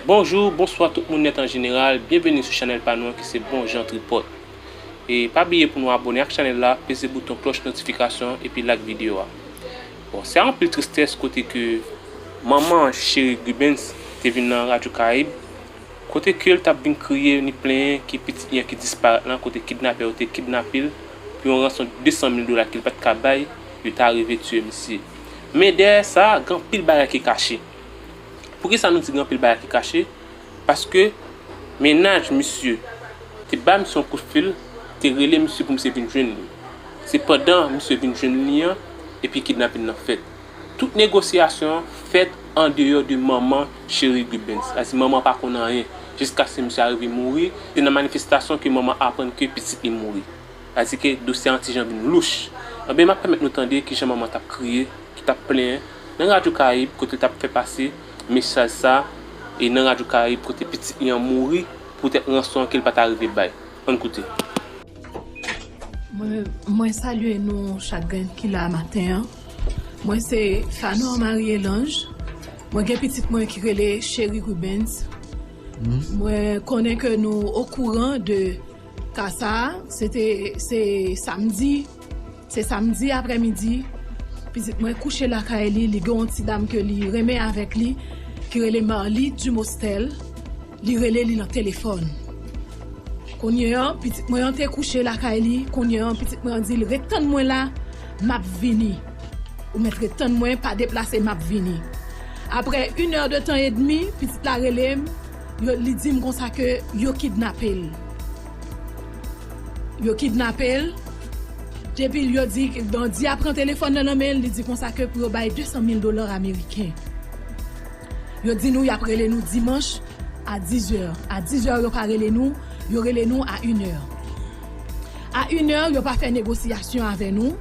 Bonjou, bonswa tout moun nèt an jeneral, byenveni sou chanèl pa nou an ki se Bon Jan Tripòt. E pa bliye pou nou abòne ak chanèl la, peze bouton klòch notifikasyon an epi like videyo a. Bon, se a anpil tristès kote ke. Manman Cheri Gubens te vin nan Radyo Karayib, kote ke l t ap vin kriye ni plenyen ke pitit li an ki disparèt lan kote kidnapè yo te kidnape l pou yon ranson 200 mil dola ke l pa t ka bay, yo ta rive tiye misye. Men dèyè sa, gen anpil bagay ki kache. Poukisa nou di gen anpil bagay ki kache? Paske mennaj misye te ba misye yon kout fil, te rele misye pou misye vin jwenn li. Se pandan misye vin jwenn li an epi kidnapin nan fèt. Tout negosyasyon an fèt andeyò de manman Cheri Gubens. Sa vle di manman an pa konn anyen jiskaske misye arive mouri. Se nan manifestasyon ke manman an aprann ke pitit li mouri. Sa vle di ke dosye an ti jan vin louch. Anben m ap pèmèt nou tande ki jan manman an t ap kriye, ki t ap plenyen. Nan radyo karayib kote l tap fè pase mesaj sa e nan radyo karayib kote pitit li an mouri poutèt ranson an ke l pa ta rive bay. Ann koute. Mwen salye nou chak grenn ki la maten an. Mwen se Phanor Marie Elange. Mwen gen pitit mwen ki rele Chery Rubens. Mwen konnen ke nou okouran de ka sa a. Se te se samdi. Se samdi aprè midi, pitit mwen kouche lakay li, li gen yon ti dam ke li renmen avèk li ki rele Marlie Dumostel, li rele li nan telefòn. Kounye an, pitit mwen an te kouche lakay li, kounye an pitit mwen an di l ret tann mwen la, m ap vini. Ou mèt ret tann mwen, pa deplase m ap vini. Aprè in è de tan edmi, pitit la rele m, yo li di m konsa ke yo kidnape l. Yo kidnape l, depi l yo di bandi a pran telefòn nan nan men l, li di konsa ke pou yo bay 200 mil dola ameriken. Yo di nou y ap rele nou dimanch a dizè. A dizè yo pa rele nou, yo rele nou a inè. A inè yo pa fè negosiyasyon avè nou,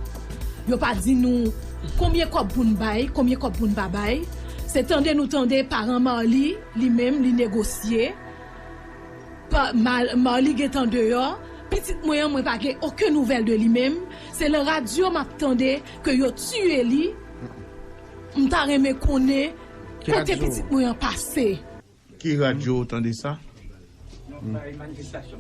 yo pa di nou konbyen kòb pou n bay, konbyen kòb pou n pa bay. Se tande nou tande paran Marly li menm li negosye. Marly gentan deyò, pitit mwen an mwen pa gen oken nouvèl de li menm, se lan radyo map tande ke yo tiye li, m ta renmen konnen kote pitit mwen an pase. Ki radyo ou tande sa?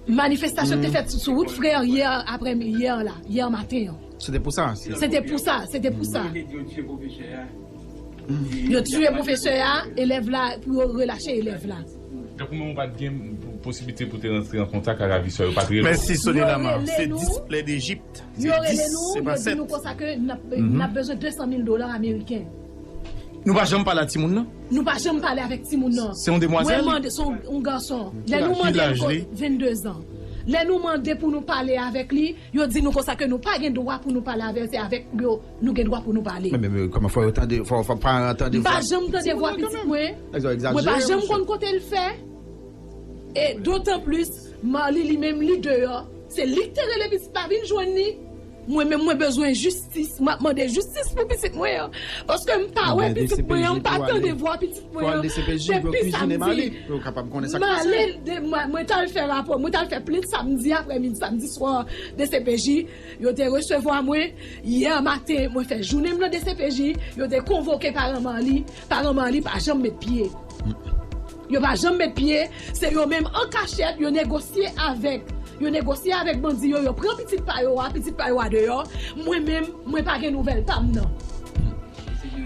Manifestasyon te fèt sou wout frère yè aprè mi yè la, yè maten an. Se te pou sa? Se te pou sa, se te pou sa. Yo tiye pwofesè a, elèv la pou yo relache elèv la. Tankou menm ou pat gen posiblite pou te rantre an kontak ak avisò yo pat rele w. Mèsi Sony Lama, se 10 plè dejip, se 10 se pa 7. Nou pa janm pale a timoun nan? Se yon demwazèl? Ki laj li? Nou gen dwa pou nou pale. Men men kòman fò yo tande fò paran an tande vwa. M pa janm tande vwa pitit mwen. Nèg sa yo egzajere. Mwen pa janm konn kote l fè. E dotan plis Marlie li menm li deyò se li k te rele pitit la vin jwenn li. Mwen menm mwen bezwen jistis. Map mande jistis pou pitit mwen an. Paske m pa wè pitit mwen an m pa tande vwa pitit mwen an. Depi samdi. M ale mwen t al fè rapò mwen t al fè plent samdi aprèmidi samdi swa dcpj. Yo te resevwa mwen, yè maten mwen fè jounen m nan dcpj, yo te konvoke paran Marly, paran Marly pa janm met pye. Yo pa janm met pye, se yo menm an kachèt yo negosye avèk, yo negosye avèk bandi yo, yo pran pitit pa yo a, pitit pa yo a deyò, mwen menm mwen pa gen nouvèl pa m nan.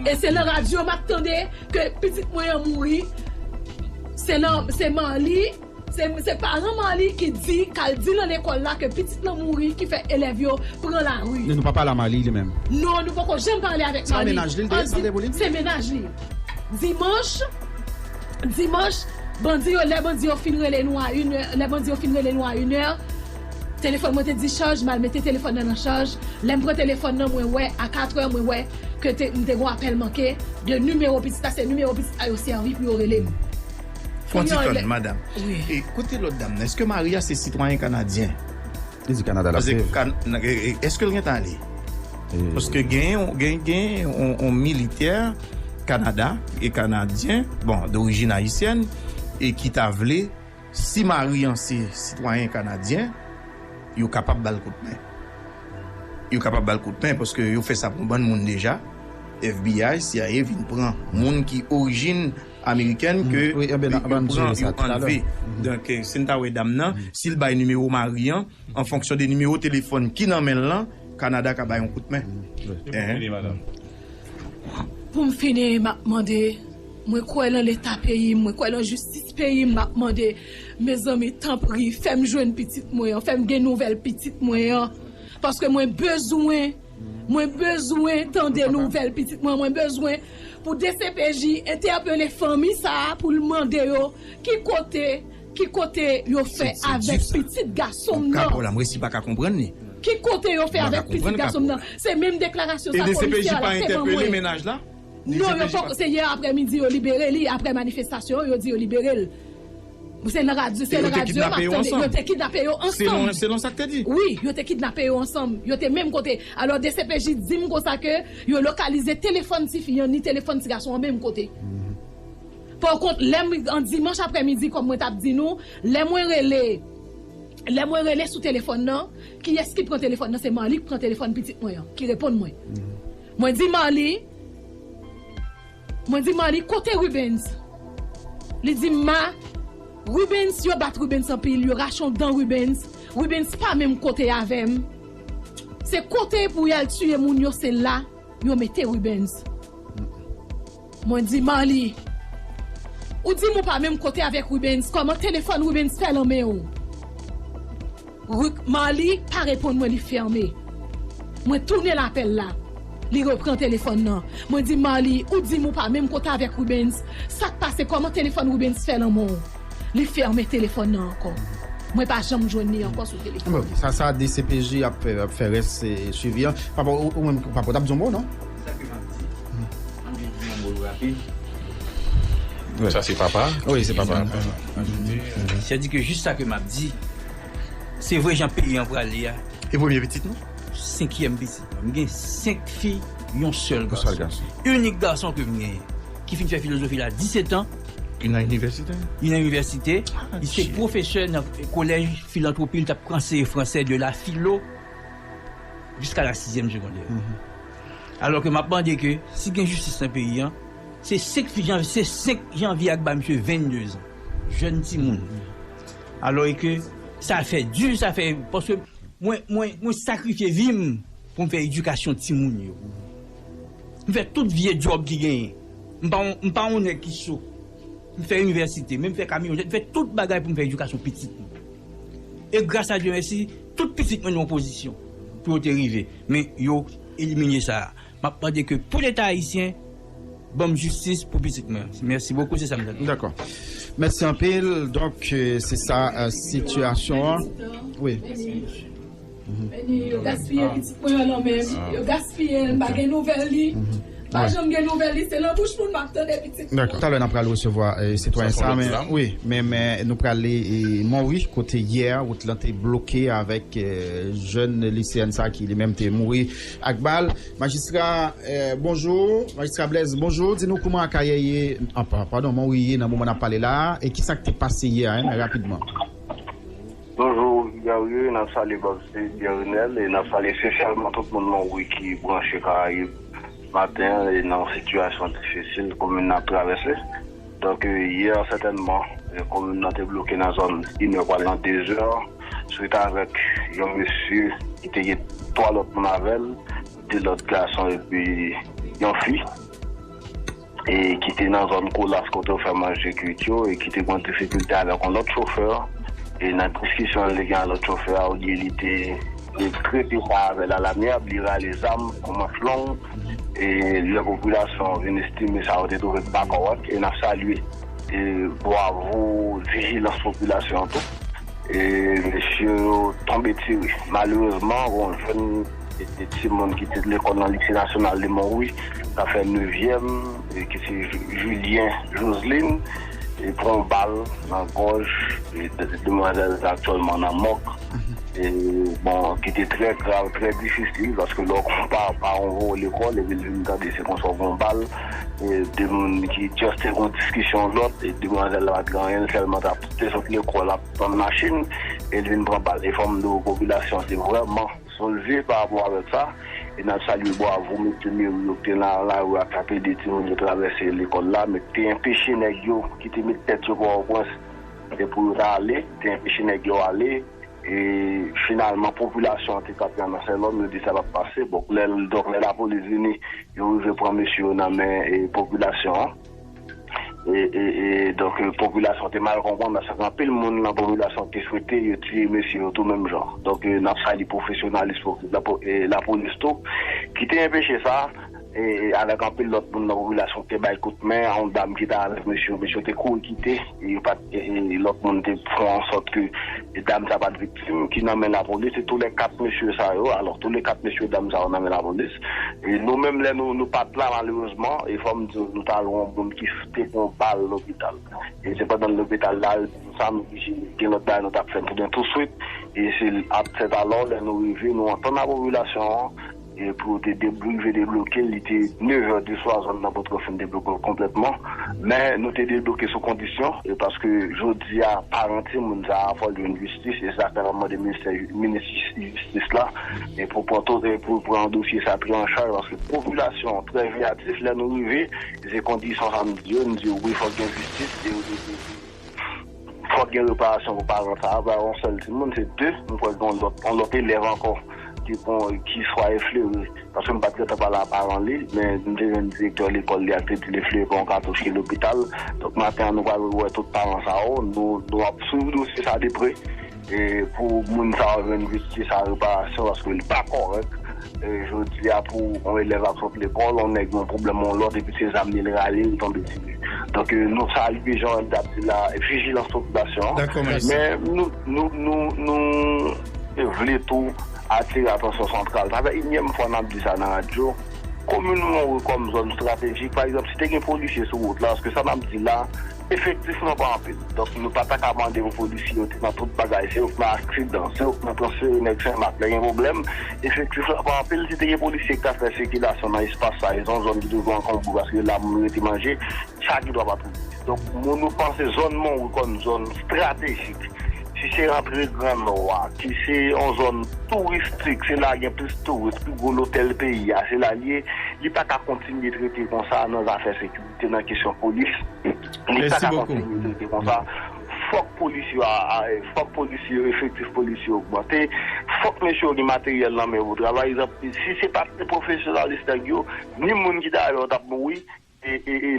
E se nan radyo m ap tande ke pitit mwen an mouri, se nan, se Marly. Se paran Marlie ki di kal di nan lekòl la ke pitit lan mouri ki fè elèv yo pran lari. Men nou pa pale a Marlie li menm. Non nou poko janm pale avèk Marlie. Sa mennaj li li te sanble pou li? Se mennaj li. Dimanch Dimanch bandi yo lè bandi yo fin rele nou a yn è lè bandi yo fin rele nou a yn è telefòn mwen te dichaj mal mete telefòn nan nan chaj lèm pran telefòn nan mwen wè a katrè mwen wè ke te m te gon apèl manke de nimewo pitit la se nimewo pitit la yo sèvi pou yo relem. Yon ti tann madam, e kote lòt dam nan? Eske mari a se sitwayen kanadyen? Li di kanada lap viv. Eskel gentan ale? Paske genyen yon militè kanada e kanadyen, bon dorijin ayisyèn e ki ta vle si mari an se sitwayen kanadyen yo kapab bal kout men. Yo kapab bal kout men paske yo fè sa pou yon bann moun deja FBI, cia vin pran moun ki orijin. Amerikèn ke yo pran yo anlve. Donk si n ta wè dam nan, si l bay nimewo mari an, an fonksyon de nimewo telefòn ki nan men l lan, Kanada ka bay yon kout men. Pou m fini madanm. Pou m fini m ap mande, mwen kwè lan leta peyi m, mwen kwè lan jistis peyi m, m ap mande, mezanmi tanpri fè m jwenn pitit mwen an, fè m gen nouvèl pitit mwen an paske mwen bezwen. Mwen bezwen tande nouvèl pitit mwen mwen bezwen pou dcpj entèpele fanmi sa poul mande yo ki kote ki kote yo fè avèk pitit gasonm nan ki kote yo fè avèk pitit gasonm nan se menm deklarasyon sa polisye a la fè ban mwen. Non yo poko se yè aprè midi yo libere li aprè manifestasyon yo yo di yo libere l se nan radyo se nan radyo map tande yo te kidnape yo ansanm selon sak te di wi yo te kidnape yo ansanm yo te menm kote alò dcpj dim konsa ke yo lokalize telefòn ti fi an ni telefòn ti gason an menm kote pò kont lè m an dimanch aprè midi kòm mwen tap di nou lè mwen rele lè mwen rele sou telefòn nan kiyès ki pran telefòn nan se Marly k pran telefòn pitit mwen an ki reponn mwen. Mwen di Marly Mwen di Marly kote Rubens Li di m ma Rubens yo bat Rubens anpil yo rache yon dan Rubens Rubens pa menm kote avè m Se kote pou y al tiye moun yo se la yo mete Rubens. Mwen di Marly, Ou di m ou pa menm kote avèk Rubens, kòman telefòn Rubens fè lan men ou? Ru, Marly pa reponn mwen li fème. Mwen tounen l apèl la, li repran telefòn lan. Mwen di Marly, Ou di m ou pa menm kote avèk Rubens, sa k pase kòman telefòn Rubens fè lan men w? Li fème telefòn lan ankò. Mwen pa janm jwenn li ankò sou telefòn. Sa sa dcpj ap fè rès swivi an. Papa ou menm papa ou t ap di yon mo non? Sa ke map di An vin di yon mo l rapid Sa se papa Wi se papa Sa di ke jis sa ke map di Se vre jan peyi an prale a E premye pitit nou? Senkyèm pitit mwen M gen senk fi yon sèl gason Inik gason ke m genyen Ki fin fè filozofi l a disetan Li nan inivèsite? Li nan inivèsite Li se pwofesè nan kolèj filantwopi Li tap anseye fransè de la filo Jiska la sizyèm segondè Alò ke map mande ke si gen jistis nan peyi an, se 5 janvye, se 5 janvye a k bay misye 22 zan, jèn timoun. Alò e ke sa fè di, sa fè, paske mwen, mwen, mwen sakrifye vi m pou m fè edikasyon timoun yo. M fè tout vye djòb ki genyen. M pa yon, m pa yon nèg ki so. M fè inivèsite, men m fè kamyonèt, m fè tout bagay pou m fè edikasyon pitit mwen. E gras a Dye mèsi, tout pitit mwen nan yon pozisyon pou yo te rive. Men yo elimine sa a. Map mande ke pou leta ayisyen banm jistis pou pitit mwen. Merci beaucoup se sa m ta di. Dakò. Mèsi anpil. Donk se sa sitiyasyon an. Wi. Yo gaspiye pitit mwen an lanmè. Yo gaspiye l m pa gen nouvèl li. Pa janm gen nouvèl li se nan bouch moun map tande pitit mwen. Dakò. Talè nap pral resevwa sitwayen sa men wi men men nou prale Monwi kote yè wout lan te bloke avèk jèn liseyèn sa ki li menm te mouri ak bal. Majistra bonjou Majistra Blaise bonjou di nou kouman Akayè ye padon Monwi ye nan moman nap pale la e kisak te pase yè a rapidman. Bonjour Guerrier nap salye Baptiste Guerinel e nap salye spesyalman tout moun Monwi ki branche karayib maten an e nan yon sitiyasyon difisil komin nan ap travèse donk yè sètènman komin nan te bloke nan zòn inè pwal nan dezè swit avèk yon mesye ki te gen 3 lòt moun avèl 2 lòt gason epi yon fi. e ki te nan zòn Kolas kote yo fè manje kuit yo e ki te gen yon difikilte avèk yon lòt chofè e nan diskisyon li te gen ak lòt chofè a olye li te trete sa avè l alamyab li rale zam an manch long e lè popilasyon an vin estime sa yo te twouve ki pa kòrèk e n ap salye e bwavo vijilans popilasyon an tou e mesye yo tonbe tire malerezman gen yon jèn. Se timoun ki te lekòl nan Lise Nasyonal de Monwi k ap fè nevyèm ki se Julien Joslin ki pran yon bal nan gòj demwazèl sa aktyèlman nan mòg bon ki te trè grav trè difisil paske lè w konpa paran w voye w lekòl epi l vin tande se konsa w pran yon bal de moun ki just te gen yon diskisyon lòt demwazèl la pa t gen anyen l sèlman t ap te sot lekòl ap tann machin e l vin pran bal e fò m di w popilasyon se vrèman. Solvie pa rapò avèk sa, e nap salye bwavo mesye Mery yo ki te nan lari a kap ede timoun yo travèse lekòl la men ki te enpeche nèg yo ki te met tèt yo pòtoprens e pou yo ta ale te enpeche nèg yo ale e finalman popilasyon an te ka pran nan sè lòm yo di sa pap pase bon lè donk lè lapolis vini yo rive pran mesye yo nan men popilasyon an. E donk popilasyon te mal konprann paske gen anpil moun nan popilasyon ki te swete yo tiye mesye yo tou menm jan. Donk n ap salye pwofesyonalis lapolis tou ki te enpeche sa avèk anpil lòt moun nan popilasyon ki te bay kout men a yon dam ki te avèk mesye yo. Mesye yo te kouri kite. Yo pat e lòt moun te fè an sòt ke dam sa pat viktim ki nan men lapolis e tou lè 4 mesye sa yo alò tou le 4 mesye dam sa yo nan men lapolis e nou menm lè nou nou pat la malerezman e fòm diw nou tal wè yon moun ki te pran yon bal lopital e se pandan lopital la yo di nou sa nou oblije gen lòt bagay nou tap fè touswit e se ap fèt alò lè nou rive nou antann a popilasyon an Pou yo te rive debloke l, li te nevè de swa, zòn nan potko fin debloke l konplètman. Men, nou te debloke sou kondisyon, paske jodi a, paran timoun sa a fò l jwenn jistis, e se sa k fè n ap mande ministè, minis jistis la, pou l pran to, pou l pran dosye sa a pi an chaj, paske popilasyon an trè veyatif, lè nou rive, se kondisyon sa a nou di yo, nou di yo wi fòk gen jistis. Fòk gen reparasyon pou paran sa a, pa yon sèl timoun, se 2, m kwè gen yon lòt elèv ankò ki pran, ki swa eflere, paske m pa t gen tan pale a paran li, men m te jwenn direktè lekòl li a ki te di l eflere pran yon katouch ki lopital, donk maten an nou pral wè tout paran sa yo, nou ap swiv dosye sa de pre. E pou moun sa yo jwenn jistis ak reparasyon paske li pa kòrèk jodi a pou yon elèv ap sot lekòl yon nèg gen yon pwoblèm yon lòt epi se zam li li rale li tonbe tire donk nou salye jan Wendy ap di la vijilans popilasyon an men nou vle tou atire atansyon santral sa fè inyèm fwa nap di sa nan radyo komin Montreux kòm zòn estratejik pa egzanp si te gen polisye sou wout la paske sa nap di la. Efektif nou pa anpil, donk nou pa ta ka mande pou polisye yo te nan tout bagay, se yo k nan aksidan, se yo k nan transfere nèg Senmak lè gen pwoblèm. Efektif la pa anpil, si te gen polisye ki ta fè sikilasyon nan espas sa yo, se yon zòn ki toujou ankonbre paske la moun rete manje, sa gen dwa pa twouble. Donk mou nou panse zòn Monwi kòm zòn estratejik, ki se antre gran Nò a, ki se yon zòn touristik, se la gen plis touris, pi gwo lotèl peyi a se la l ye, li pa ka kontinye trete konsa nan zafè sekirite. Se nan kesyon polis li pa ka kontinye trete konsa fòk polis yo fòk polis yo efektif polis yo ogmante fòk mesye yo gen materyèl nan men pou travay si se pat pwofesyonalis nèg yo ni moun ki ta yo tap mouri e.